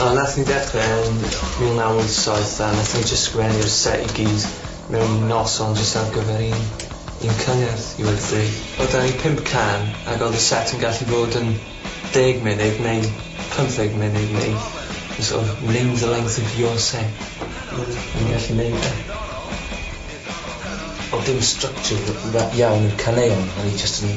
O nath ni dechre yn mil naw wyth saith a nath ni jyst sgwennu'r set i gyd mewn un noson jyst ar gyfer un un cyngerdd i weud y gwir. Odd 'da ni pump can ag odd y set yn gallu bod yn deg munud neu pymtheg munud neu jys sort of name the length of your set. Hmm. O'n ni'n gallu neud e. Odd dim structure r- ra- iawn i'r caneuon o'n ni jyst yn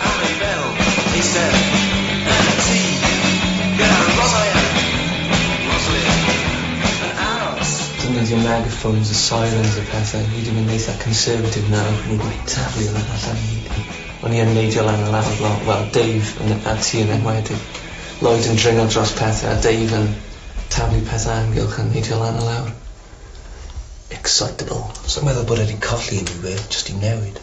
Harry Bell, eistedd yn y tŷ gyda Roslyn, Roslyn yn aros. Defnyddio megaffôns a sirens a pethau, hyd yn oed eitha conservative nawr, ac o'n i 'di taflu hwnna allan i gyd. O'n i yn neidio lan a lawr lo- wel Dave yn a ti yn enwedig. Lloyd yn dringo dros pethau a Dave yn taflu pethau amgylch yn neidio lan a lawr. Excitable. Sai'n meddwl bod e 'di colli unrhyw beth, jyst 'di newid.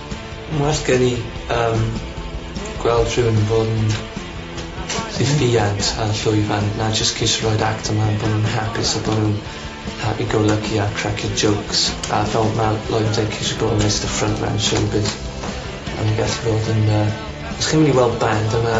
Mae'n well gen i yym gweld rhywun yn bod yn ffiant a llwyfan na jyst ceisio roid actor mlan bo' nw'n hapus a bo' nw'n happy go lucky a cracio jokes a fel ma' Lloyd yn deud ceisio bod yn Mister Front Man showbiz a ma'n gallu bod yn yy os chi'n myn' i weld band a ma'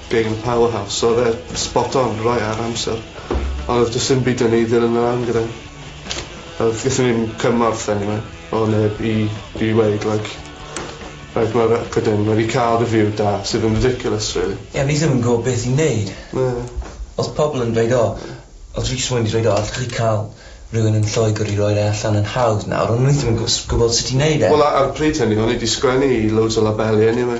gig yn y Power House so odd e spot on rei ar amser ond odd jys dim byd yn i ddilyn e lan gyda. Odd gethon ni'm cymorth eniwe o neb i i weud like reit ma' record in ma' 'di ca'l review da sydd yn ridiculous rili. Ie o'n i ddim yn gwbo beth i neud. Na. Odd pobol yn dweud o odd Rhys Wyn 'di dweud o allwch chi ca'l rywun yn Lloegr i roi'r e allan yn hawdd nawr on' o'n i ddim yn gw- s- gwbod sut i neud e. Wel a- ar y pryd hynny o'n i 'di sgwennu i loads o labeli eniwe.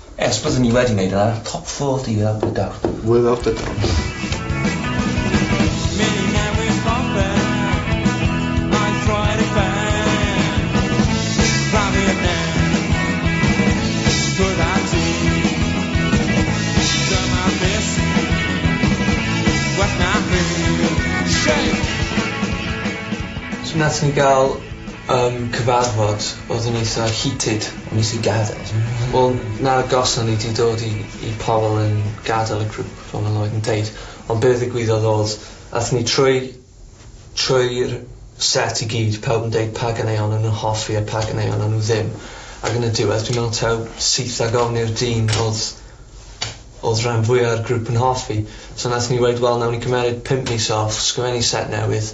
Ers byddwn ni wedi wneud ar top four ti fel Blydawr. Without a doubt. So nathon ni ga'l yym cyfarfod odd yn eitha heated. Nes i gadel. Wel na gawson ni 'di dod i i pobol yn gadel y grŵp fel ma' Lloyd yn deud ond be' ddigwyddodd odd athon ni trwy trwy'r set i gyd pawb yn deud pa ganeuon o'n nw hoffi a pa ganeuon o'n nw ddim ag yn y diwedd dwi me'wl taw syth ag ofn i'r dyn odd odd rhan fwya'r grŵp yn hoffi so nathon ni weud wel nawn ni cymeryd pump mis off sgwennu set newydd